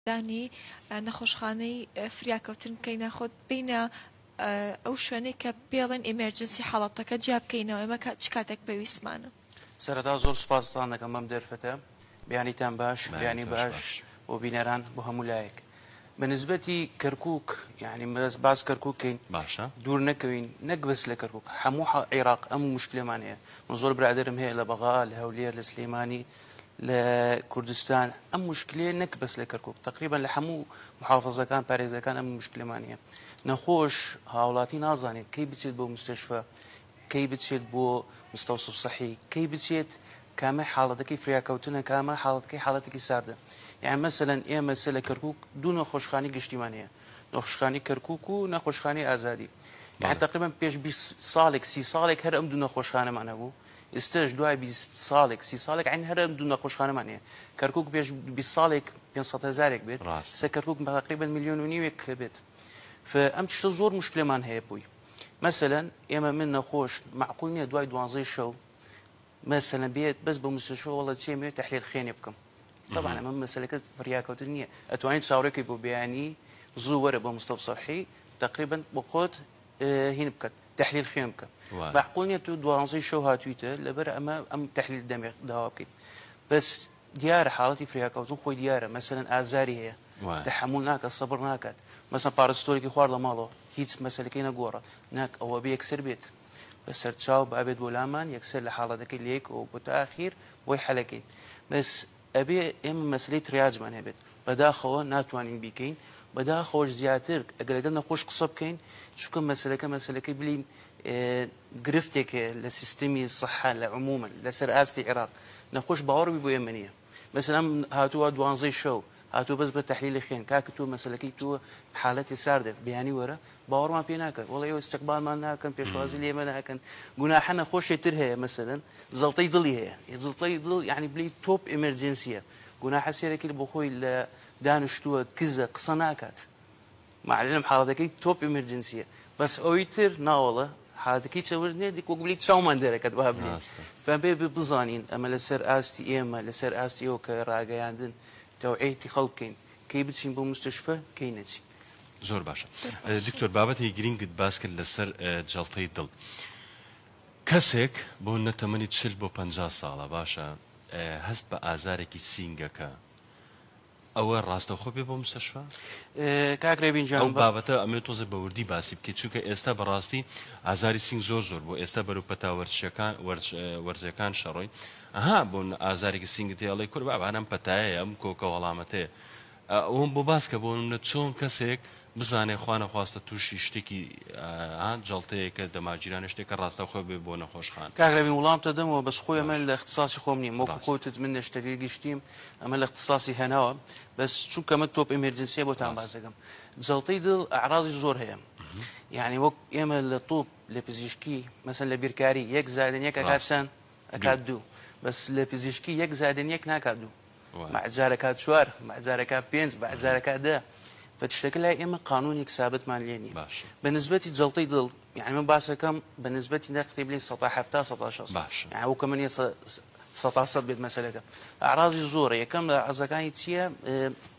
دانی نەخۆشخانەی فریاکەوتن بکەینە خۆت بینە ئەو شوێنەی کە پێڵێن ئیمێرجنسی حاڵەتەکە جیا بکەینەوە ئێمە چ کاتێک پێویستمانە سەرەتا زۆر سوپاستان دەکەم بەم دەرفەتە بیانیتان باش بیانی باش بۆ بینەران بۆ هەموو لایەک بە نسبەتی کەرکک یعنی مەدەست باس کەرکک کەین باشە دوور نەکەوین نەک بەس لە کەرکک هەموو عێراق ئەم مشکلێمان هەیە من زۆر برادرم هەیە لە بەغا لە هەولێر لە سلەیمانی لە کوردستان ئەم مشکلەیە نەک بەس لە کەرکک تقریبان لە هەموو محافزەکان پارێزەکان ئەم مشکلمانە نەخۆش هاوڵاتی نازانێت کەی بچێت بۆ مستەشفە کەی بچێت بۆ مستەوسف سەحی کەی بچێت کامە حاڵەتەکەی فریاکەوتنە کامە حاڵەتەکەی حاڵەتێکی ساردە یان مەسەەن ئێمە سە لە کەرکک دوو نەخۆشخانی گشتیمان هەیە نەخشخانی کەرکک و نەخۆشخانی ئازادی یان تقریبان پێش ساڵێک سی ساڵێک هەر ئەم دوو نەخۆشخانەمان هەبوو ئیستەش دوای بیست ساڵێک سی ساڵێک عەین هەر ئەم دوو نەخۆشخانەمان هەیە کەرکوک پێش بیست ساڵێک پێنج سەد هەزارێک بێت ڕاست سە کەرکوک تقریبا ملیۆن و نیوێک بێت ئەم تشتە زۆر مشکلەمان هەیە بووی مەسەلەن ئێمە من نەخۆش معقول نییە دوای دوانزەی شەو مەسەلە بێت بەس بە مستشفە وڵە چێ مێ تحلیل خێنێ بکەم طبعا ئەمە مەسلەکە فریاکەوتن نییە ئەتوانین چاوڕێکی بۆ بیانی زوو وەرە بە مستەفسەحی تقریبا بۆ خۆت هین بکەت تحلیل خوێن بکە مەعقول نیە تو دوانزەی شەو هاتویتە لەبەر ئەمە ئەم تحلیل دەمێ داوا بکەیت بەس دیارە حاڵەتی فریاکەوتن خۆی دیارە مەسەن ئازاری هەیە تحمل ناکە سەبر ناکات مەسە پارستۆرێکی خوارد لە ماڵەوە هیچ مەسلەکەی نەگۆڕە ناک ئەوە بە یەکسەر بێت بە سەرچاو بابێت بۆ لامان یەکسەر لە حاڵەتەکەی لەیەکەوە بۆ تاخیر بۆی حەلەکەین بەس ئەبێ ئێمە مەسەلەی تریاجمان هەبێت بەداخەوە ناتوانین بیکەین بەداخەوەش زیاتر ئەگەر لەگەڵ نەخۆش قسە بکەین چونکە مەسەلەکە مەسەلەکەی بلین گرفتێک هەیە لە سیستمی سەحە لە عمومن لەسەر ئاستی عێراق نەخۆش باوەڕبی بۆ ئێمە نییە مەسەلام هاتووە دوانزەی شەو هاتوو بەس بە تحلیلی خوێن کاکە تۆ مەسلەکەی تۆ حالەتی ساردێک بیانی وەرە باوەڕمان پێ ناکەن وەڵا ئێوە ئیستیقبالمان ناکەن پێشوازی لێمە ناکەن گوناحە نەخۆشێ تر هەیە مەسەلەن زەڵتەی دڵی هەیە یە زڵتەی دڵ یعنی بلی تۆپ ئێمەرجنسیە گوناحە سێرەکرد بۆ خۆی لە دانیشتووە کزە قسە ناکات معلم حاڵەتەکەی تۆپ ئێمەرجنسیە بەس ئەوی تر ناوەڵە حالەتەکەی چەورد نیە دیک وەک بلی چاومان دەرەکەت با بلێ ڕاستە فەن بێ بێ بزانین ئەمە لەسەر ئاستی ئێمە لەسەر ئاستی ئەو کە ڕاگەیاندن تەوعێتی خەڵکەین کەی بچین بۆ مستشفە کەی نەچین زۆر باشە دکتۆر بابەتێکی گرینگت باس کرد لەسەر جەڵتەی دڵ کەسێک بۆ نەتەمەنی چل بۆ پ ساڵە باشە هەست بە ئازارێکی سینگەکە ئەوە ڕاستەخۆ بێ بۆ مستەشفا کاکرێبین جان بابەتە ئەمێ تۆزە بەوردی باسی بکەیت چونکە ئێستا بەڕاستی ئازاری سنگ زۆر زۆر بۆ ئێستا بەرو پەتا وەرچەکان وەرزەکان شەڕۆی ئەها بۆن ئازارێکی سنگت هێڵی کورد بابانم پەتایە ئەم کۆکە وەڵامەتێ ئەوەم بۆ باس کە بۆ نمونە چۆن کەسێک بزانێ خوا نەخواستە تووشی شتێکی ها جەڵتەیەکە دەماجیرانە شتێکە ڕاستەوخۆ بێ بۆ نەخۆشخان. کاک رەبین وڵامتە دەمەوە بەس خۆی ئەمە باش لە اختساسی خۆم نیم وەکو ڕاست. خۆتت من نەشتەرگەری گشتیم ئەمە لە اختساسی هەناوە بەس چونکە من تۆپ ئێمێرجنسیە بۆتان باس ڕاست. دەکەم جەڵتەی دڵ ئەعراضی زۆر هەیە یانی وەک ئێمە لە طوب لە پزیشکی مەسەن لە بیرکاری یەک زادن یەک ئەکات ڕاست چەن؟ ئەکات دوو دوو بەس لە پزیشکی یەک زادن یەک ناکات دوو. مەع جارەکا چوار، مەع جارەکا پێنج، مەع جارەکا دە. بە تشتەکە لای ئێمە قانوونێک سابتمان لێ نییە. بە نسبەتی جەڵتەی دڵ، یانی من باس ئەکەم بە نسبەتی نەک قسەی بلێین سەتا حەفتا سەتا شەست. یانی ئەو کەمە نییە سەتا سەد بێت مەسەلەکە. ئەعرازی زۆرە، یەکەم لە ئەعرازەکانی چییە؟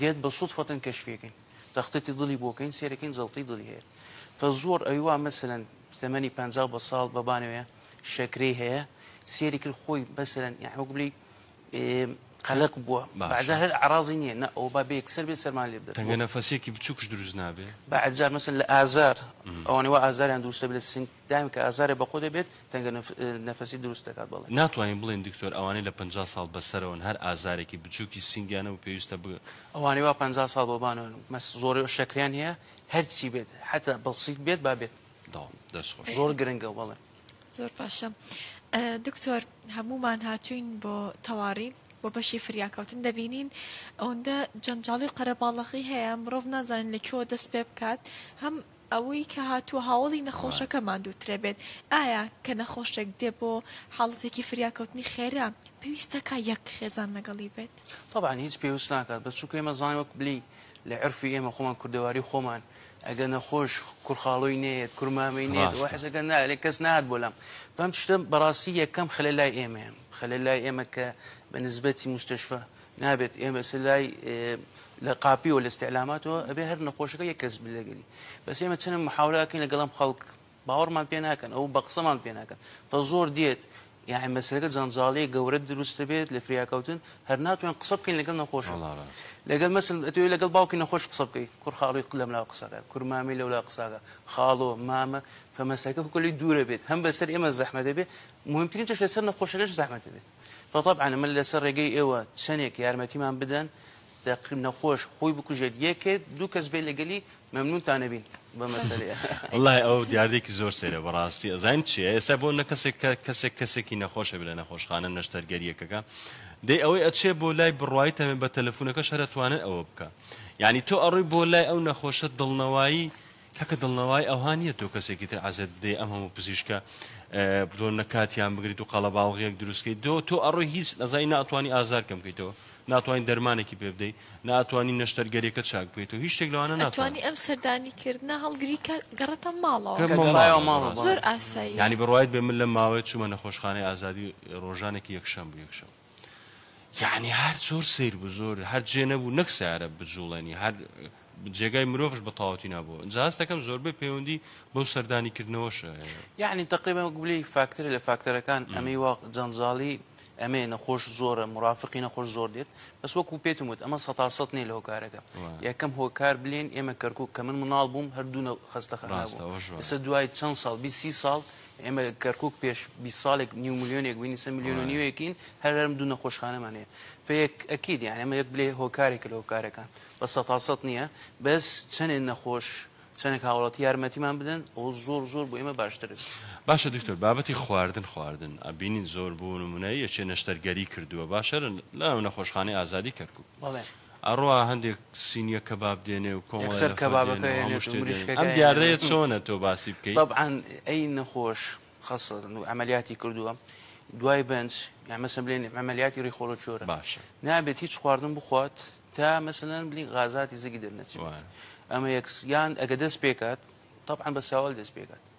دێت بە صدفە کەشفیەکەین تەختەتی دڵی بۆ کەین سێرەکەین جەڵتەی دڵی هەیە تە زۆر ئەوی وا مەسەلەن تەمەنی پ بە ساڵ بە بانەوەیە شەکرەی هەیە سێری کرد خۆی بەسەرەن یان وەک بلی قەلق بووە بەجار هەر عراضی نییە نە ئەو با بێک سەر بێ سەرمان لێ بدەنگە نەفەسێکی بچووکش دروست نابێ بەجار مەسن لە ئازار ئەوانەوە ئازاریان دووسە لە سنگ دایم کە ئازارێ بە قۆ دەبێت تەنگە نەفەسی دروست دەکات بەڵێ. ناتوانین بڵێین دکتۆر ئەوانەی لە پەنجا ساڵ بەسەرەوەن هەر ئازارێکی بچوکی سنگیانە و پێویستە بگ. ئەوانەی وا پەنجا ساڵ بۆ بانەوەن و مەست زۆری و شەکریان هەیە هەرچی بێت حەتا بەسیت بێت با بێت. داوام دەست خۆش. زۆر گرنگە بەڵێ. زۆر باشە دکتۆر هەموومان هاتوین بۆ تەواڕی و بەشی فریاکەوتن دەبینین ئەوەندە جەنجاڵی قەرەباڵەخی هەیە مرۆڤ نازانن لە کوێوە دەست پێ بکات هەم ئەوەی کە هاتووە هاوەڵی نەخۆشەکە ماندووترە بێت، ئایا کە نەخۆشێک دێ بۆ حاڵەتێکی فریاکەوتنی خێرا پێویست دەکا یەک خێزان لەگەڵی بێت؟ تەبعەن هیچ پێوست ناکات بەس چونکە ئێمە زانین وەک بلێی لە عێرفی ئێمە خۆمان کوردەواری خۆمان ئەگەر نەخۆش کور خاڵۆی نەیەت کور مامەی نەیەت ئەوە ڕاستە حەزەکە نا ئەلێ کەس نەهات بۆ لام بەم تشتە بەڕاستی یەکەم خەلە لای ئێمەیە خەلە لای ئێمە کە بە نسبەتی موستەشفە نابێت ئێمە سە لای لە قاپیەوە لە استعلاماتەوە ئەبێ هەر نەخۆشەکە یە کەس بلەگەلی بەس ئێمە چەنە محاولاکەین لەگەڵم خەڵک باوەڕمان پێ ناکەن ئەو بە قسەمان پێ ناکەن تا زۆر دێت یاعی مەسلەکە جەنجاڵی گەورە دروستە بێت لە فریاکەوتن هەر ناتوان قسە بکەین لەگەڵ نەخۆش لەگەڵ مەسل ئەتوێ لەگەڵ باوکی نەخۆش قسە بکەی کور خاڵی قلم لا قسەکە کورمامی لەولا قساکە خاڵۆ مامە فەمەسەکە کوکەلی دوورە بێت هەم بەسەر ئێمە زەحمە دەبێت مهمترین چش لەسەر نەخۆشەکەش زەحمە دەبێت فطبعا ئەمە لەسەر ڕێگەی ئێوە چەنێک یارمەتیمان بدەن دەق نەخۆش خۆی بکوژێت یەکێت دوو کەس بێت لەگەلی مەمنونتان ئەبین بە مەسەلەیە وەڵای ئەو دیاردەیەکی زۆر سەیرە بەڕاستی ئەزانین چیە ئێستا بۆ نە کەسێک کە کەسێک کەسێکی نەخۆش ئەبێ لە نەخۆشخانە نەشتەرگەری یەکەکە دەی ئەوەی ئەچێ بۆ لای بڕوای تەمێ بە تەلەفونەکەش هەر ئەتوانێت ئەوە بکا یانی تۆ ئەڕۆی بۆ لای ئەو نەخۆشە دڵنەوایی کاکە دڵنەوای ئەوها نیە تۆ کەسێکی تر عەزێت بدەی ئەم هەموو پزیشکە بۆ نەکاتیان بگریت و قەڵەباوغیەک دروستکەیت دۆ تۆ ئەڕۆی هیچ نەزای ناتوانانی ئازار کەم بکەیتەوە ناتوانین دەرمانێکی پێ بدەیت ناتوانانی نەشتەرگەریەکە چاک بکەیت و هیچ شتێک لەوانە ناتوانانی ئەم سەردانی کردنە هەڵگری گەڕێتە ماڵەوە زۆر ئاسایی ینی بڕایت بێ من لە ماوەیە چوومە نەخۆشخانەی ئازادی ڕۆژانێکی یەکشەم بوو یەکشەم یەعنی هەر زۆر سەیر بوو زۆر هەر جێ نەبوو نەک سیارە بجوڵێنی هەر جێگای مرۆڤش بە تەواوەتی نابوو ئینجا هەستەکەم زۆربەی پەیوەندی بەو سەردانی کردنەوەشە هەیە. یەعنی تەقریبەن وەک بلێی فاکتەرێ لە فاکتەرەکان ئەمەی وا جەنجاڵی ئەمەیە نەخۆش زۆرە مرافقی نەخۆش زۆر دێت بەس وەکو پێتم وت ئەمە سەتا سەد نیە لە هۆکارەکە وایە. یەکەم هۆکار بلێن ئێمە کەرکوک کە من مناڵ بووم هەر دوو نەو خەستەخانە بوو ڕاستە ئەوەش وایە. ئێستا دوای چەند ساڵ بیست سی ساڵ ئێمە کەرکوک پێش بیست ساڵێک نیو ملیۆنێک بووین، ئیستا ملیۆن و نیوێکین، هەر هەر دوو نەخۆشخانەمان هەیە. فەیەک ئەکید یانی ئەمە یەک بلێ هۆکارێکە لە هۆکارەکان، بە سەتا سەت نییە، بەس چەنێ نەخۆش، چەنێک هاوڵاتی یارمەتیمان بدەن، ئەوە زۆر زۆر بۆ ئێمە باشتر بێ. باشە دکتۆر بابەتی خواردن خواردن ئەبینین زۆر بۆ نمونە یەکێ نەشتەرگەری کردووە باشە لە ناو نەخۆشخانەی ئازادی کەرکوک بەڵێ ئەڕوا هەندێک سینیە کەباب دێنێ و کۆمەڵە یەکسەر نەفەر کەبابەکە دێنێ و هەموو هێنێت و شتێ دێنێت مریشکەکە ئەم دیاردەیە هێنێت چۆنە تۆ باسی بکەی؟ تەبعەن ئەی نەخۆش خەستە و عەمەلیاتی کردووە دوای بەنج یان مەسەن بلێن عەمەلیاتی ڕیخۆڵە چۆرە باشە نابێت هیچ خواردن بخوات تا مەسەلەن بلین غازاتی زگی دەرنەچێت وایە ئەمە یەکس یان ئەگە دەست پێکات تەبعەن بە ساوەل دەست پێکات.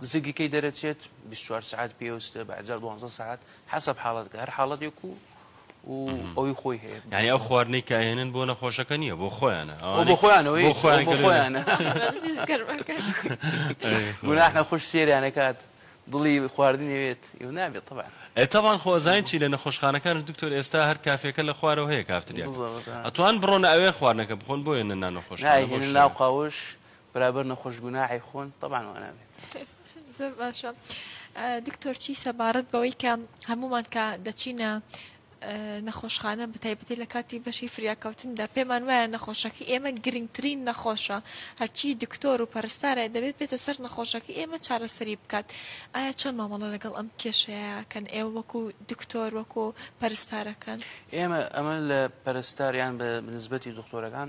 زگی کەی دەرەچێت بیست چوار سەعات پێوستە بە ئەجار دوانزە سەعات حەسەب حاڵەتەکە هەر حاڵەتێک و و ئەوی خۆی هەیە یعنی ئەو خواردنەی کە ئەهێنن بۆ نەخۆشەکە نییە بۆ خۆیانە ئەو ئەوانەی بۆ خۆیانەوەی بۆ خۆیان بۆ کە لێ- خۆیانە جز گەرمەکە. گوناح نەخۆش سێریان نەکات دڵی خواردنی بێت ئیوە نابێت طبعا ئێ تەبان خۆ ئەزانین چی لە نەخۆشخانەکانش دکتۆر ئێستا هەر کافێکە لە خوارەوە هەیە کافتریاکە بزەوت، ها. ئەتوان بڕۆنە ئەوێ خواردنەکە بخۆن بۆیە نە نانەخۆشخانە بۆ نایهێنن شتەکە. ناو قاوش برابر نەخۆش گوناحی خۆن تەبان وانابێت. زۆر باشە دکتۆر چی سەبارەت بەوەی کە هەمومان کە دەچینە نەخۆشخانە بەتایبەتی لە کاتی بەشی فریاکەوتندا پێمان وایە نەخۆشەکە ئێمە گرنگترین نەخۆشە هەرچی دکتۆر و پەرستارە دەبێت بێتە سەر نەخۆشەکە ئێمە چارەسەری بکات ئایا چۆن مامەڵە لەگەڵ ئەم کێشەیەکەن ئێوە وەکو دکتۆر وەکو پەرستارەکەن ئێمە ئەمە لە پەرستاریان بە نسبەتی دکتۆرەکان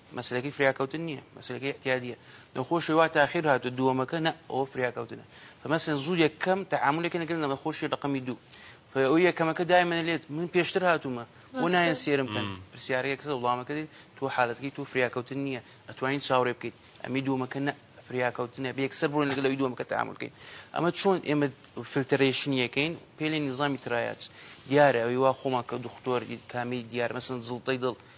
مەسەلەکەی فریاکەوتن نیە مەسەلەکەی اعتیادیە نەخۆشی وا تاخیر هاتو دووەمەکە نە ئەوە فریاکەوتنە فمەسەن زوو یەکەم تەعاملەکە نەکردن لە نەخۆشی ڕقمی دوو فەوە یەکەمەکە دایمەنە لێت من پێشتر هاتوومە بۆ نایەن سێرم کەن پرسیارەیە کەسە وڵامەکە دێت تۆ حالەتەکەی تۆ فریاکەوتن نییە ئەتوانین چاوڕێ بکەیت ئەمی دوومەکە نە فریاکەوتنە بێکسەر بوون لەگەڵ لەوی دووەمەکە تامل بکەین ئەمە چۆن ئێمە فلتەرێشنیەکەین پێلێ نیزامی ترایات دیارە ئەوی وا خۆمان کە دختۆر کامی دیار مەسن زڵتەی دڵ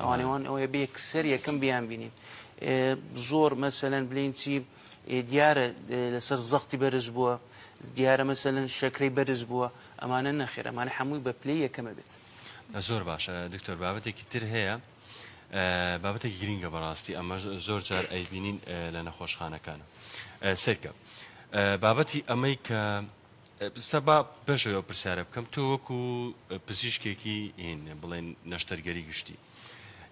ئەوانەی وان ئەوەیە بێ سەر یەکەم بیان بینین زۆر مەسەەن بلین چی دیارە لەسەر زەختی بەرز بووە دیارە مەسەەن شەکرەی بەرز بووە ئەمانە نەخێر ئەمانە هەمووی بە پلی یەکەمە بێت زۆر باشە دکتۆر بابەتێکی تر هەیە بابەتێکی گرینگە بەڕاستی ئەمە زۆر جار ئەیبینین لە نەخۆشخانەکانە سرکە بابەتی ئەمەی کە ستا با بەشەوە ئەو پرسیارە بکەم تۆ وەکو پزیشکێکی هین بڵێن نەشتەرگەری گشتی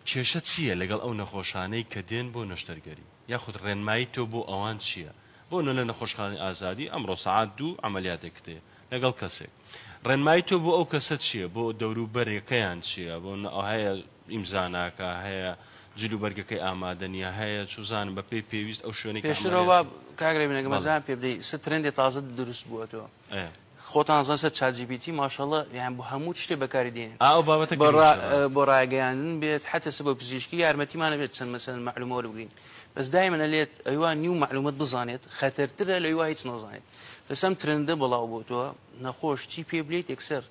کێشە چییە لەگەڵ ئەو نەخۆشانەی کە دێن بۆ نەشتەرگەری یاخود ڕێنمایی تۆ بۆ ئەوان چییە بۆ نە لە نەخۆشخانی ئازادی ئەمڕۆ سعات دوو ئەعملیاتێک کتێ لەگەڵ کەسێک ڕێنمایی تۆ بۆ ئەو کەسە چییە بۆ دەوروبەرەکەیان چییە بۆ ئەوهەیە ئیمزا ناکا، هەیە جل و بەرگەکەی ئامادە نیە، هەیە چوزانم بە پێی پێویست ئەو شوێنەی کە پێشتر ئەوە عەمەلیاتی. کاک ڕێبین ئەگەر مەزەیان پێ بدەی سە ترێندێ تازە دروست بووەتۆ ئەێ. خۆتان زان سە چات جی پی تی ماشاڵڵە یان بۆ هەموو چشتێ بەکاری دێنین ئا ئەو بابەتە بۆ را گرینگە ڕاست. بۆ ڕاگەیاندن بێت حەتە سە بۆ پزیشکی یارمەتیمان ئەبێت چەند مەسەلەن مەعلومە وەربگرین بەس دایمەن ئەلێت ئەیوا نیو مەعلومەت بزانێت خەتەر ترە لە ئەیوا هیچ نەزانێت بەس ئەم ترێندە بڵاو بۆتۆ نەخۆش چی پێ بلیت یەکسەر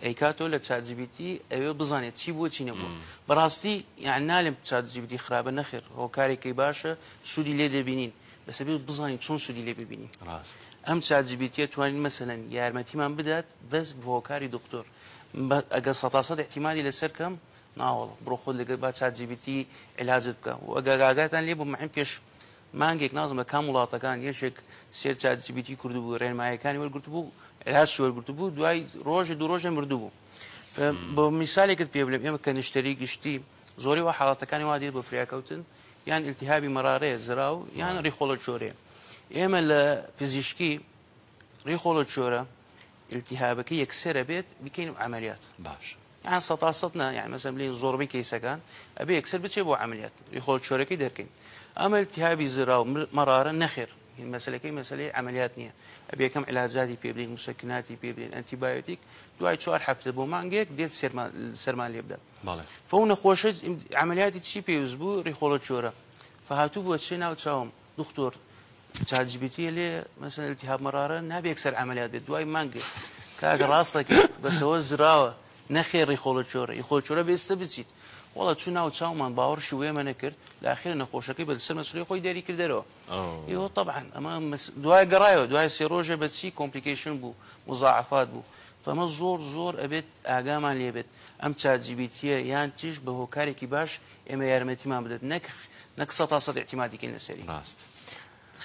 ئەی کاتۆ لە چات جی بی تی ئەوێ بزانێت چی بووە چی نەبووە بەڕاستی یان نالێم چات جی بی تی خراپە نەخێر هۆکارێکی باشە سوودی لێ دەبینین بەس ئەبێت بزانین چۆن سوودی لێ ببینین ڕاست ئەم چات جی بی تیە توانین مەسەلەن یارمەتیمان بدات بەس بە هۆکاری دکتۆر بە- ئەگەر سەتا سەد احتیمالی لەسەر کەم ناوەڵە بڕۆ خۆت لەگەر با چات جی بی تی علاجت بکە و ئەگە گاگاتان لێ بوو مەحیم پێش مانگێک نازم لە کام وڵاتەکان یەکێک سێر چات جی بی تی کردبوو ڕێنمایەکانی وەرگرتبوو عێلاستی وەرگرتبوو دوای ڕۆژە دوو ڕۆژێ مردبوو بۆ میسالێکت پێ بلێم ئێمە کە نشتەری گشتی زۆری وە حاڵاتەکانی وا دێت بۆ فریاکەوتن یان التهابی مەراڕێ زراو یان ڕیخۆڵە چۆرێ ئێمە لە پزیشکی ڕیخۆڵە چۆرە التهابەکە یەکسرە بێت بکەین و عملیات باش یان سە سەد نا یان مەسم لین زۆربەی کەیسەکان ئەبێ یەکسەر بچێ بۆ عملیات ریخۆڵ چۆرەکەی دەکەین ئەمە التهابی زرا و مەرارە نەخێر مەسلەکەی مەسلەی عملیات نییە ئەبێ یەکەم علاجاتی پێبدەین مسەکناتی پێبدەین ئەنتیبایۆتیک دوای چوار هەفتە بۆ مانگێک دێت سەرمان لێ بدە فەو نەخۆشە عملیاتی چی پێویست بوو ریخۆڵە چۆرە فهاتوو بۆ چێ ناو چاوم دختۆر چات جی بی تی لێ مەسەن التهاب مەرارە نابێ یەکسەر عملیات بێت دوای مانگ کاکە ڕاستەکە بەسەوە زراوە نەخێڕی خۆڵە چۆرە ئی خۆڵ چۆرە بێستە بچیت وڵە چوو ناو چاومان باوەڕشی وێمە نەکرد لاخێرە نەخۆشەکەی بە سەر مەسلی خۆی دەری کردەرەوە ئێوە طبعاً ئەمە دوای گەڕایەوە دوای سێ ڕۆژە بەچی کۆمپلیکیشن بوو مزاعفات بوو فەمە زۆر زۆر ئەبێت ئاگامان لێبێت ئەم چاجیبیتە یان تیش بە هۆکارێکی باش ئێمە یارمەتیمان بدەت نەک نەک سە تا سەد اعتیمادی کەین لەسەری ڕاست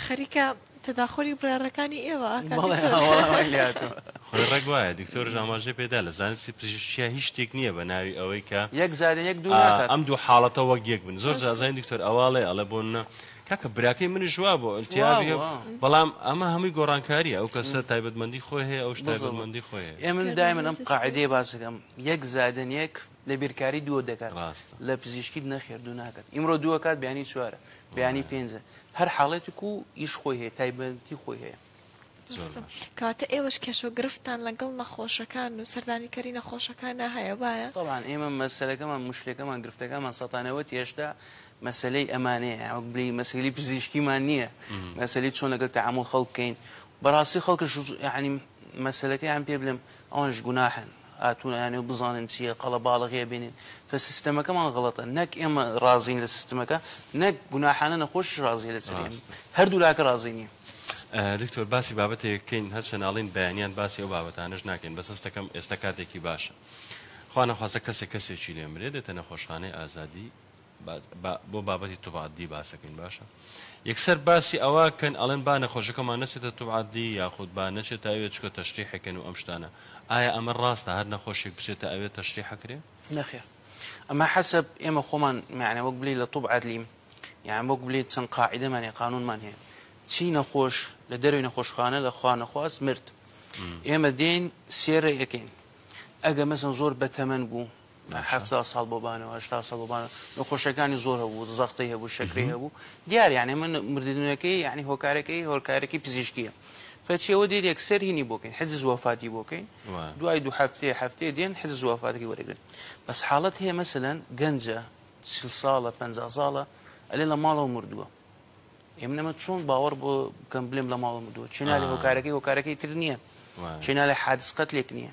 خەریکە تەداخۆری بڕارەکانی ئێوە خۆی ڕێک وایە دکتۆر ژاماژێ پێدا لە زانستی پزیشکیا هیچ شتێک نییە بە ناوی ئەوەی کە یەک زارە یەک دوو ئەم دوو حاڵەتە وەک یەک بن زۆر جازانی دکتۆر ئەواڵێ ئەڵێ بۆ نە کاکە براکەی من ژوا بۆ ئەلتیابی بەڵام ئەمە هەمووی گۆڕانکاریە ئەو کەسە تایبەتمەندی خۆی هەیە ئەو شتایبەتمەندی خۆی ئێ من دای منم قاعدەیە باسەکەم یەک زادن یەک لە بیرکاری دوو دەکات ڕاستە لە پزیشکیت نەخێر دوو ناکات ئیمڕۆ دووە کات بیانی چوارە بیانی پێنجە هەر حاڵێتێک و ئیش خۆی هەیە تایبەتی خۆی هەیە کاتە ئێوەش کێش و گرفتان لەگەڵ نەخۆشەکان و سەردانیکەری نەخۆشەکان هەیە وایە طبعاان ئێمە مەسلەکەمان مشتێکەکەمان گرفتەکەمان سەتانەوەت هێشتا مەسلەی ئەمانەیە ئەوک بلی مەسلی پزیشکیمان نییە مەسلی چۆن لەگەڵ تەعامل خەڵکەین بەڕاستی خەڵکە ینی مەسلەکەیان پێ بلم ئەوانش گوناحن هاتوون ئەیانەوێت بزانن چییە قەڵەباڵغییە بینین کە سیستەمەکەمان غەڵەتە نەک ئێمە ڕازین لە سیستمەکە نەک گوناحانە نەخۆشیش ڕازین لە سەری ئێمە هەردوو لاکە ڕازی نین. دکتۆر باسی بابەتێک کەین هەر چەناڵین بەیانیان باسی ئەو بابەتانەش ناکەین بەس هەستەکەم ئێستا کاتێکی باشە خوا نەخواسە کەسێک کەسێکی لێمرێ دێتە نەخۆشخانەی ئازادی با بۆ بابەتی توب عەددی باسەکەین باشە یەکسەر باسی ئەوە کەن ئەڵێن با نەخۆشەکەمان نەچێتە توب عەددی یاخود با نەچێتە ئەوێ چکە تەشریحەکەن و ئەم شتانە ئایا ئەمە ڕاستە هەر نەخۆشێک بچێتە ئەوێ تەشریحەکرێ نەخێر ئەمە حەسب ئێمە خۆمان معنە وەک بلی لە توب عەدلیم یان وەک بلیت چەند قاعدەمان هەیە قانونمان هەیە چی نەخۆش لە دەروی نەخۆشخانە لە خوا نەخواست مرد ئێمە دێن سێرە یەکەین ئەگە مەسن زۆر بەتەمەەن بوو هەفتا ساڵ بۆ بانەوە هەشتا ساڵ بۆ بانەوە نەخۆشیەکانی زۆر هەبوو زەختەی هەبوو شەکرەی هەبوو دیار یانێ من مردنەکەی یعنی هۆکارەکەی هۆکارێکی پزیشکیە کەچیەوە دێت یەکسەر هینی بۆکەین حجز وەفاتی بۆکەین دوای دوو هەفتێ هەفتێ دێن حجز وەفاتەکەی وەرەگرن بەس حاڵەت هەیە مەسەەن گەنجە چل ساڵە پ ساڵە ئەلێ لە ماڵەوە مردووە ئێمە نەمە چۆن باوەڕ بۆ بکەم بلێم لە ماڵە مردووە چێنالی هۆکارەکەی هۆکارەکەی تر نییە چێنالی حادس قەتلێک نییە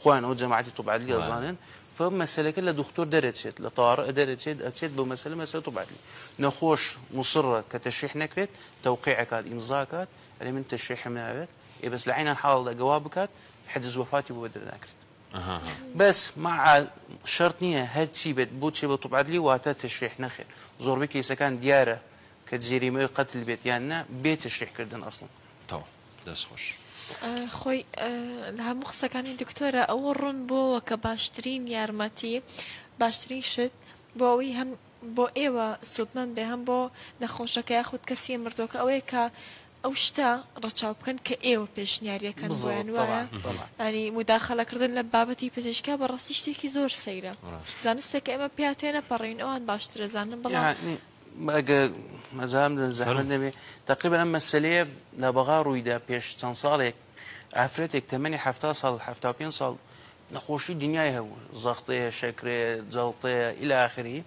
خۆیان ئەو جەماعەتی طب عدلی ئەزانن فە مەسەلەکە لە دختۆر دەرەچێت لە طارئ دەرەچێت ئەچێت بۆ مەسەلە مەسەلە طب عدلی نەخۆش مصرە کە تەشریح نەکرێت تەوقیع ئەکات ئیمزا ئەکات ئەلێ من تەشریحم ناوێت ئێ بەس لە عینە حاڵدا گەوا بکات حجز وەفاتی بۆ دەرناکرێت بەس مع شەرت نییە هەرچی بێت بۆ چێ بە طب عدلی واتە تەشریح نەخێر زۆربەی کەیسەکان دیارە کە جێریمەوەی قەتل بێت یان نا بێ تەشریحکردن ئەسڵن تەواو دەست خۆش خۆی لە هەموو قسەکانی دکتۆرە ئەوە ڕوون بۆەوە کە باشترین یارمەتی باشترین شت بۆ ئەوی هەم بۆ ئێوە سوودمەند بێ هەم بۆ نەخۆشەکە یاخود کەسی مردۆکە ئەوەیە کە ئەو شتە ڕەچاو بکەن کە ئێوە پێشنیارەکەن زۆیان وایە ئەنی مداخەلەکردن لە بابەتی پزیشکا بە ڕاستی شتێکی زۆر سەیرە زانستێک ئێمە پیاتێنە پەڕین ئەوان باشترە زانن بڵێ ئەگە مەزان بدەن زەحمەت نەبێ تقریبا ئەم مەسلەیە لە بەغا ڕوویدا پێش چەند ساڵێک ئافرەتێک تەمەنی ه ساڵ ه پێ ساڵ نەخۆشی دنیای هەبوو زەختەیە شەکرێ جەڵتەیە ئیلا آخری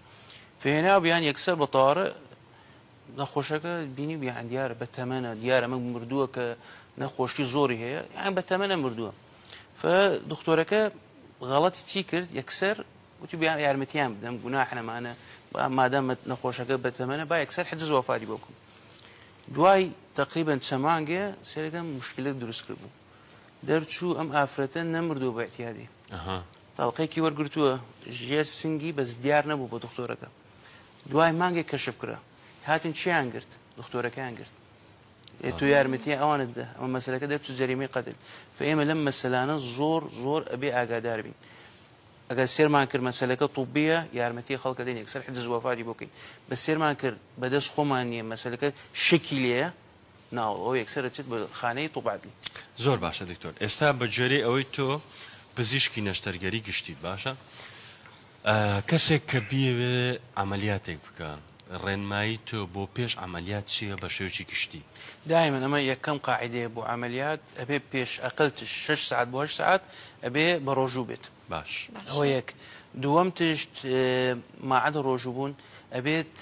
فێنا بیان یەکسەر بە تاڕە نەخۆشەکە بینی بیان دیارە بە تەمەە دیارە مە مردووە کە نەخۆشی زۆری هەیە یان بە تەمەە مردووە فە دکتۆرەکە غەڵەتی چی کرد یەکسەر وتبیان یارمەتیان بدەم گوناح نەمانە با مادام نەخۆشەکە بەتەمەنە با یەکسەر حجز وەفاتی بۆ بکەم دوای تقریبن چەمانگێ سێرەکەم مشکلت دروست کرد بوو دەرچوو ئەم ئافرەتە نەمردو بە احتیادی تاڵقێکی وەرگتووە ژێر سنگی بەس دیار نەبوو بۆ دکتۆرەکە دوای مانگێک کەشف کرا هاتن چیان گرت دکتۆرەکەیان گرت تو یارمەتی ئەوانت دە ئەمە مەسلەکە دەرچوو جەریمی قەتل فئێمە لەم مەسلانە زۆر زۆر ئەبێ ئاگادار بین ئەگەر سێرمان کرد مەسەلەکە طوبیە یارمەتی خەڵک ئەدەین یەکسەر حجز وەفاتی بۆ کەین بەس سێرمان کرد بەدەست خۆمان نیە مەسەلەکە شکی لێیە ناوەڵ ئەوە یەکسەر ئەچێت بە خانەی طوبعدلی. زۆر باشە دکتۆر ئێستا بە گوێرەی ئەوەی تۆ پزیشکی نەشتەرگەری گشتیت باشە کەسێک کە بیەوێ عەمەلیاتێک بکا ڕێنمایی تۆ بۆ پێش عەمەلیات چیە بە شێوەکی گشتی؟ دایمەن ئەمە یەکەم قاعیدەیە بۆ عەمەلیات ئەبێ پێش ئەقلتش شەش سەعات بۆ هەشت سەعات ئەبێ بە ڕۆژوو بێت باش. ئەوە باشە. یەک دووەم تشت ماعەدە ڕۆژوو بوون ئەبێت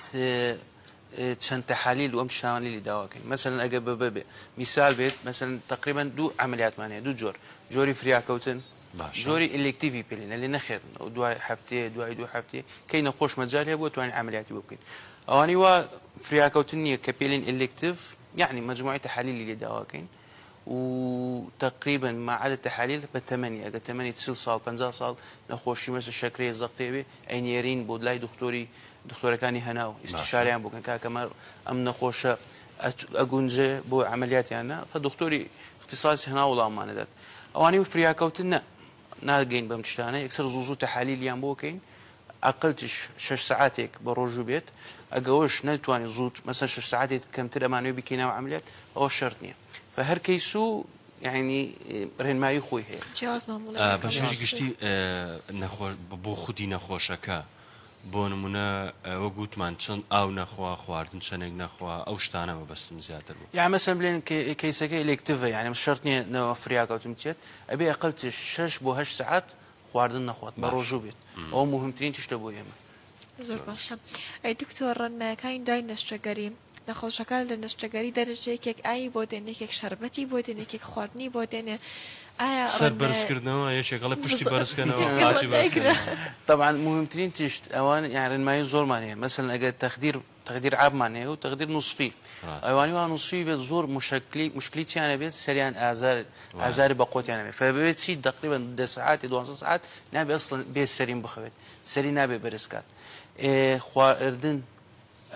چەند تەحالیل و ئەم تشتانەی لێ داوا کەین مەسەلەن ئەگەر بە بەبێ میسال بێت مەسەلەن تەقریبەن دوو عەمەلیاتمان هەیە دوو جۆر جۆری فریاکەوتن جۆری ئیلێکتیڤی پێ لێنە لێ نەخێر ئەو دوای هەفتەیە دوای دوو هەفتێ کەی نەخۆش مەجال هەیە بۆ توانین عملیاتی بۆ بکەین ئەوانی وا فریاکەوتن نییە کە پێلین ئەلکتیڤ یعنی مجموعی تحلیلی لێ داواکەین و تقریبا مەعادە تحلیل بە تەمەنی ئەگە تەمەنی چل ساڵ پ ساڵ نەخۆشی مەسە شەکرەیە زەختێوێ ئەینێرین بۆ لای دکتۆری دکتۆرەکانی هەنا و ئیسشاریان بکەن کاکەمە ئەم نەخۆشە ئەگونجێ بۆ عملیاتیانە فە دکتۆری اختصاص هەناو وڵاممان ئەدات ئەوانەی وفریاکەوتن نە ناگەین بەم تشتانە یەکسەر زوو زوو تەحالیلیان بۆ کەین ئەقلتش شەش سەعاتێک بە ڕۆژوو بێت ئەگەوەش نەتوانین زووت مەسەن شەش سەعاتێت کەمتر ئەمانەوە بکەینەوە عملیات ئەوە شەرت نییە فهەر کەیس و یعنی ڕێنمایی خۆی هەیە جیاواز مامۆ لە بە شێوەی گشتی نەخۆش بۆ خودی نەخۆشەکە بۆ نمونە وەک وتمان چەند ئاو نەخوا خواردن چەنێک نەخوا ئەو شتانە مەبەستم زیاتر بوو. یان مەسەن بلێن کەیسەکە ئیلێکتڤە یانم شەرت نیە نەوە فریاکەوتن بچێت ئەبێ ئەقەل تش شەش بۆ هەشت سەعات خواردن نەخوات بە ڕۆژوو بێت ئەوە موهمترین تشتە بۆ ئێمە. زۆر باشە ئەی دکتۆر ڕەنمایەکانی دوای نەشتەگەری؟ نەخۆشەکە لە نەشتەگەری دەرەچێ یەکێک ئاوی بۆ دێنێ یەکێک شەربەتی بۆ دێنێ یەکێک خواردنی بۆ دێنێ ئایا سەر بەرز ڕەنگە کردنەوە یەکێک ئەڵێ پشتی بەرز کەنەوە بزەکەی قاچی بەرز ڕەنگدایکرا. کەنەوە. تەبعەن موهیمترین تشت ئەوانە یان ڕێنمایی زۆرمان هەیە مەسەلەن ئەگەر تەخدیر تەخدیر عاممان هەیە و تەخدیر نوسفی ڕاست. ئەوانی وا نوسفی بێت زۆر موشەکلی موشکلی چیان هەبێت سەریان ئازار وایە. ئازاری بە قۆتیان هەبێت فەبێت چی تەقریبا دە سەعاتێ دوانزە سەعات نابێ ئەسڵەن بێ سەرین بخەوێت سەری نابێ بەرز کات ئێ خواردن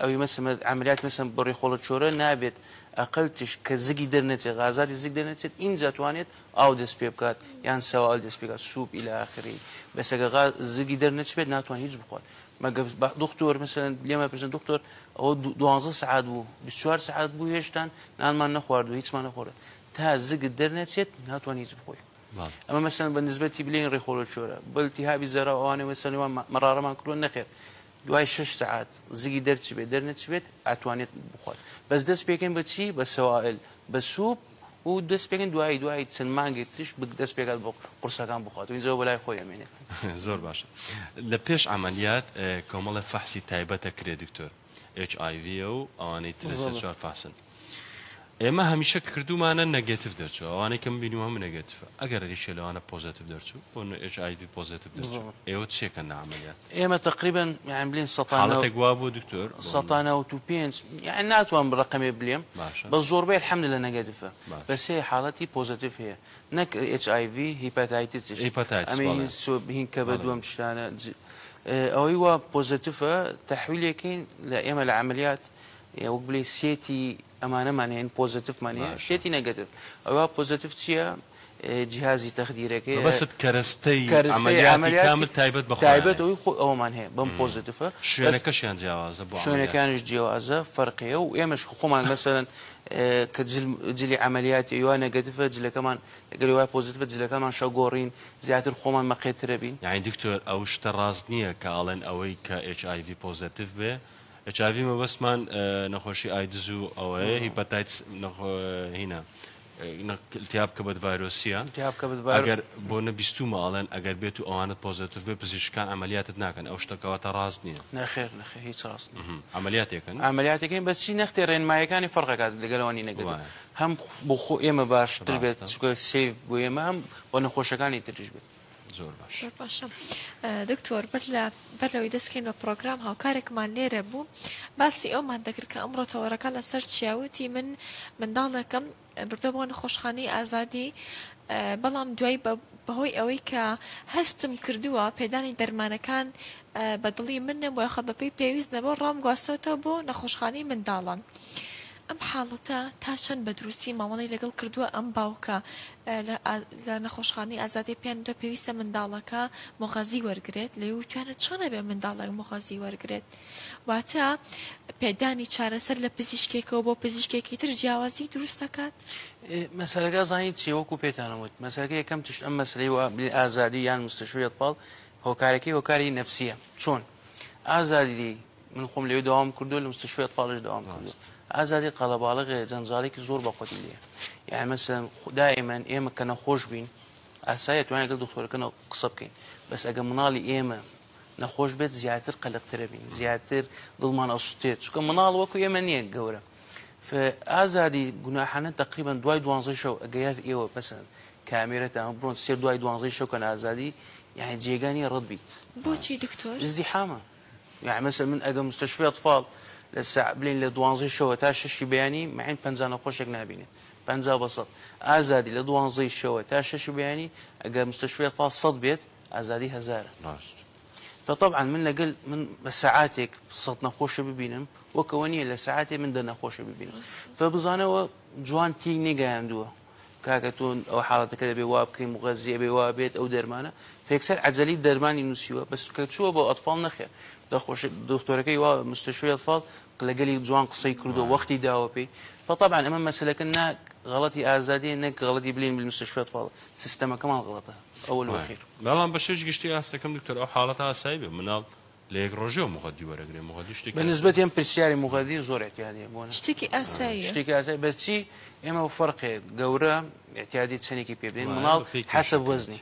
ئەوی مە سمە عەملیات مە سم بڕی خۆڵە چۆرە نابێت ئەقەل تشک کە زگی دەر نەچێت غازاتی زگ دەرنەچێت ئینجا توانێت ئاو دەست پێ بکات یان سەوائل دەست پێ کات سوپ الی اخره بەس ئەگە غا زگی دەر نەچبێت ناتوان هیچ بخوات مەگە با دختۆر مەسەلەن لێم ئەپرسن دختۆر ئەوە دو دوانزە سەعات بوو بیست چوار سەعات بوو هێشتان نانمان نەخواردووە هیچمان نەخۆرە تا زگت دەر نەچێت ناتوان هیچ بخۆی بەڵێ ئەمە مەسەلەن بە نسبەتی بلێن ڕێخۆڵە چۆرە بە التهابی زەرا و ئەوانە مەسەلەن وان مە مەرارەمان کردووە نەخێر دوای شەش سەعات زگی دەرچبێت دەرنەچبێت ئەتوانێت بخوات بەس دەست پێکەن بە چی بە سەوائل بە سوپ و دەست پێکەن دوایی دوای چەند مانگێک تریش بک دەست پێکات بۆ قورسەکان بخوات و اینجا بەلای خۆی ئەمێنێت زۆر باشە لە پێش عملیات کۆمەڵە فەحسی تایبەتە کرێ دکتۆر HIV و ئەوانەی تر زۆر. سەر چوار فەحسن ئێمە هەمیشە کردومانە نەگەتف دەرچوو ئەوانەی کەم بینی هەم نەگەتف ئەگەر ریشە لەوانە پۆزتیف دەرچوو بۆ ئێش ئایدی پۆزتیف دەرچوو ئێوە چێکە نامەیە ئێمە تقریبن یان بلین سەڵاتێک وا بۆ دکتۆر سەڵانە و تو پێنج یان ناتوان بڕقەمێ بلێم بە زۆربەی حمد لە نەگەتفە بەسێ حاڵەتی پۆزتیف هەیە نەک HIV هیپاتایتسهین کە بە دووەم شتانە ئەوەی وا پۆزتیفە تحویلێکین لە ئێمە لە عملیات یە وەک بلی سێتی ئەمانەمان هەیە پۆزەتفمان هەیە سێتی نەگەتف ئەوە پۆزەتف چییە جیهازی تەخدیرەکەی مەبەست کەرەستەی کەرەستەی عەمەلیاتی کامل عەمەلیاتی تایبەت بە خۆیانە تایبەت ئەوی خۆ ئەومان هەیە بەم پۆزەتفە بەس شوێنەکەشیان جیاوازە بۆ عەمەلیات شوێنەکانیش جیوازە فەرقیە و ئێمەش کە خۆمان مەسەلەن کە جل جلی عەمەلیاتی ئەوە نەگەتفە جلەکەمان ئەگەری وای پۆزەتفە جلەکانمان شەو گۆڕین زیاتر خۆمان مەقێترە بین. یانی دکتۆر ئەو شتە ڕاست نییە کە ئەڵێن ئەوەی کە HIV پۆزەتف بێ چاڤی مەبەستمان نەخۆشی ئایدز و ئەوەیە هیپەتایتس هینا التیاب کبد ڤایرۆسیە ئەگەر بۆ نە بیستومە ئاڵێن ئەگەر بێت و ئەوانت پۆزتیف بێ پزیشکان ئەعملیاتت ناکەن ئەو شتەکەواتە ڕاست نییە نەخێر نەخێ هیچ ڕاست ئەعملیاتێکن ئەعملیاتەکەین بەچی نەختێ ڕێنمایەکانی فەرقەکات لەگەلەوانی نەگەن هەم بۆ خۆ ئێمە باشتر بێت چکە سێ بۆ ئێمە هەم بۆ نەخۆشەکانی تریش بێت زۆر باش زۆر باشە دکتۆر بەر لە بەر لەوەی دەستکەین بە پرۆگرام هاوکارێکمان لێرە بوو باسی ئەومان دەکرد کە ئەمڕۆ تەوەرەکە لەسەر چیاوتی من منداڵێکم بردە بۆ نەخۆشخانەی ئازادی بەڵام دوای بەهۆی ئەوەی کە هەستم کردووە پێدانی دەرمانەکان بە دڵی من نەبووە خە بەپی پێویست نەبوو ڕام گواستەوەتەوە بۆ نەخۆشخانەی منداڵان. ئەم حاڵەتە تا چەند بە دروستی مامەڵەی لەگەڵ کردووە ئەم باوکە لە نەخۆشخانەی ئازادی پێیان وتووە پێویستە منداڵەکە مۆغەزی وەرگرێت لێی وتویانە چۆن ئەبێ منداڵێک مۆغەزی وەرگرێت واتە پێدانی چارەسەر لە پزیشکێکەوە بۆ پزیشکێکی تر جیاوازی دروست دەکات مەسەرەکە زانیت چی وەکو پێتانە وت مەسەرەکە یەکەم تشت ئەم مەسلەی و ئازادی یان مستشوێت پاڵ هۆکارەکەی هۆکاری نەفسیە چۆن ئازادی من خۆم لەوێ داوام کردو لە مستشفی ئەتفاڵش داوام کردو ئازادی قەلەباڵغێ جەنجاڵێکی زۆر بەخۆتی لێ یعنی مەسەن دائیمەن ئێمە کە نەخۆش بین ئاسایە توانێت گەڵ دکتۆرەکەەوە قسە بکەین بەس ئەگە مناڵی ئێمە نەخۆش بێت زیاتر قەلقترە بین زیاتر دڵمان ئەسوتێت چکە مناڵ وەکو ئێمە نییە گەورە ئازادی گوناحانە تقریبان دوای دوانزە شەو ئەگەر ئێوە پسند کامێرەتان بڕۆن سێ دوای دوانزەی شەو کەن ئازادی یعنی جێگانی ڕەت بیت بۆچی دکتۆر زدی حامە یانی مەسەلەن من ئەگەر مستەشفی ئەتفاڵ لە ساع بلێن لە دوانزەی شەوە تا شەشی بەیانی مەعین پەنجا نەخۆشێک نابینێت پەنجا بە سەد ئازادی لە دوانزەی شەوە تا شەشی بەیانی ئەگەر مستەشفی ئەتفاڵ سەد بێت ئازادی هەزارە. ڕاست. جا تەبعەن من لەگەل من بە سەعاتێک سەد نەخۆشە ببینم وەک ئەوە نییە لە سەعاتێ من دە نەخۆشە ببینم. جا بزانەوە جوان تێی نەگەیاندووە. کاکە تۆ ئەوە حاڵەتەکە دەبێ وا بکەی مغەزی ئەبێ وا بێت ئەو دەرمانە فێکسەر عەجەلی دەرمانی نووسیوە بەس کە چووە بۆ ئەتفاڵ نەخێر دەخۆش دکتۆرەکەی وا مستشفی ئەتفاڵ لەگەلی جوان قسەی کردو وەختی داوە پێی فطبعا ئەمە مەسلەکە نا غەڵەتی ئازادیە نەک غەڵەتی بلین بالمستشفی ئەتفاڵ سیستەمەکەمان غەڵەتە ئەول وەخیر بەڵام بەشێش گشتی ئاستەکەم دکتۆر ئەو حاڵەتە ئاسایی بێ مناڵ لە یەک ڕۆژێو موغەدی وەرەگرێ موغەدی شتێکی ئاسایە. بە نسبەتی ئەم پرسیاری موغەدی زۆر ئیعتیادیە بۆ نە. شتێکی ئاساییە. شتێکی ئاساییە بەس چی ئێمە بە فەرقێک گەورە ئیعتیادی چەندێکی پێ بدەین مناڵ حەسەب وەزنی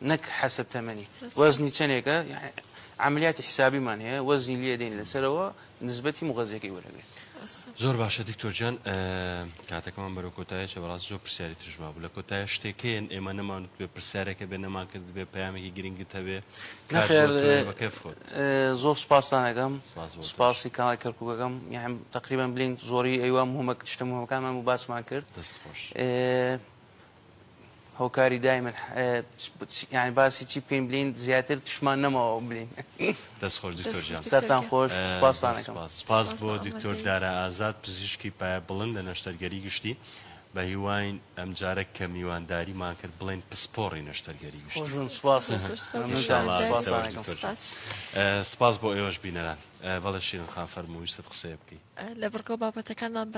نەک حەسەب تەمەنی وەزنی چەندێکە عەمەلیاتی حسابیمان هەیە وەزنی لێ دێنین لەسەرەوە نسبەتی مغەزیەکەی وەرەگرێت. زۆر باشە دکتۆر جان کاتەکەمان بەرەو کۆتایە چە بەڕاست زۆر پرسیاری ترژما بوو لە کۆتایە شتێکەیەن ئێمە نەمانوت بێ پرسیارەکە بێ نەمان کرد بێ پامێکی گرنگت هەبێ زۆر سپاسانەکەم سپاسی کاڵی کەرکووکەکەم یان تقریبان بلین زۆری ئەیوا مهمە شتە مهمەکانمان و باسمان کرد دەست خۆش. هۆکاری دایمن یعنی باسی چی بکەین بلین زیاتر تشمان نەماوە بلین دەست خۆش دکتۆر جان سەرتان خۆش سپاسان سپاس بۆ دکتۆر دارا ئازاد پزیشکی پایە بڵند لە نەشتەرگەری گشتی بە هیواین ئەمجارە کە میوانداریمان کرد بڵێن پسپۆڕی نەشتەرگەری گشتی سپاس بۆ ئێوەش بینەران بەڵێ شیرن خان فەرموویستت قسەیە بکەیت لە بڕگۆ بابەتەکانمان